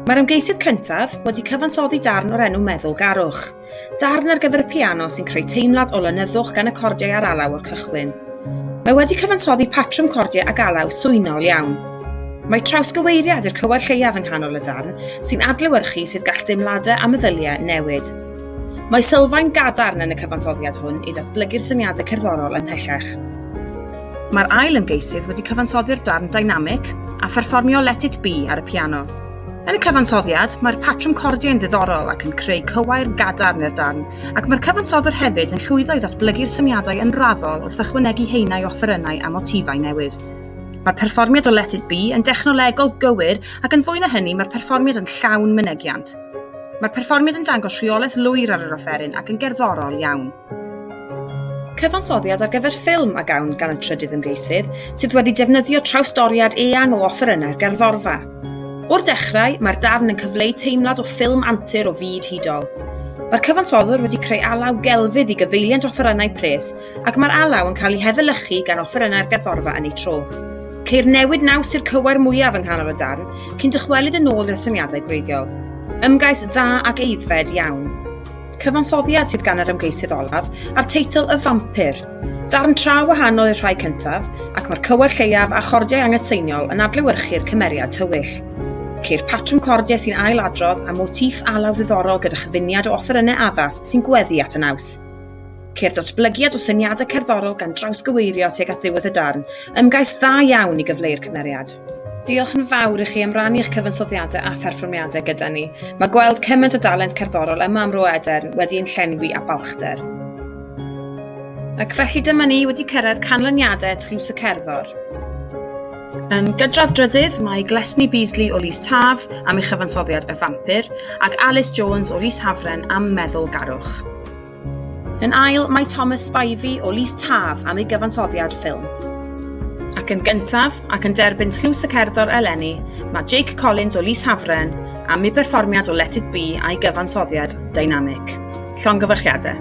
Mae'r ymgeisydd cyntaf wedi cyfansoddi darn o'r enw Meddwl Garwch, darn ar gyfer y piano sy'n creu teimlad o lenyddwch gan y cordiau ar alaw o'r cychwyn. Mae wedi cyfansoddi patrwm cordiau ag alaw swynol iawn. Mae trawsgyweiriad i'r cywair lleiaf yng nghanol y darn sy'n adlewyrchu sut gall deimladau a meddyliau newid. Mae sylfaen gadarn yn y cyfansoddiad hwn i ddatblygu'r syniadau cerddorol ymhellach. Mae'r ail ymgeisydd wedi cyfansoddi'r darn dynamic a pherfformio Let It Be ar y piano. Yn y cyfansoddiad, mae'r patrwm cordiau'n ddiddorol ac yn creu cywair gadarn i'r darn, ac mae'r cyfansoddwr hefyd yn llwyddo i ddatblygu'r syniadau yn raddol wrth ychwanegu haenau o offerynnau a motifau newydd. Mae'r perfformiad o Let It Be yn dechnolegol gywir ac yn fwy na hynny mae'r perfformiad yn llawn mynegiant. Mae'r perfformiad yn dangos rheolaeth lwyr ar yr offeryn ac yn gerddorol iawn. Cyfansoddiad ar gyfer ffilm a gawn gan y trydydd ymgeisydd, sydd wedi defnyddio trawsdoriad eang o offerynnau'r gerddorfa. O'r dechrau, mae'r darn yn cyfleu teimlad o ffilm antur o fyd hudol. Mae'r cyfansoddwr wedi creu alaw gelfydd i gyfeiliant offerynnau pres ac mae'r alaw yn cael ei hefelychu gan offerynnau'r gerddorfa yn ei tro. Ceir newid naws i'r cywair mwyaf yng nghanol y darn, cyn dychwelyd yn ôl i'r syniadau gwreiddiol. Ymgais dda ac eiddfed iawn. Cyfansoddiad sydd gan yr ymgeisydd olaf a'r teitl Y Fampir. Darn tra wahanol i'r rhai cyntaf, ac mae'r cywair lleiaf a chordiau anghytseiniol yn adlewyrchu'r cymeriad tywyll. Ceir patrwm cordiau sy'n ail-adrodd a motiff alaw ddiddorol gyda chyfuniad o offerynnau addas sy'n gweddu at y naws. Ceir ddatblygiad o syniadau cerddorol gan drawsgyweirio tuag at ddiwedd y darn. Ymgais dda iawn i gyfleu'r cymeriad. Diolch yn fawr i chi am rannu eich cyfansoddiadau a pherfformiadau gyda ni. Mae gweld cymaint o dalent cerddorol yma am Ro Edern wedi ein llenwi â balchder. Ac felly dyma ni wedi cyrraedd canlyniadau Tlws y Cerddor. Yn gydradd drydydd, mae Glesni Beasley o Lys Taf am ei chyfansoddiad Y Fampir ac Alice Jones o Lys Hafren am Meddwl Garwch. Yn ail, mae Thomas Spivey o Lys Taf am ei gyfansoddiad ffilm. Ac yn gyntaf, ac yn derbyn tlws y cerddor eleni, mae Jake Collins o Lys Hafren am ei berfformiad o Let It Be a'i gyfansoddiad dynamic. Llongyfarchiadau.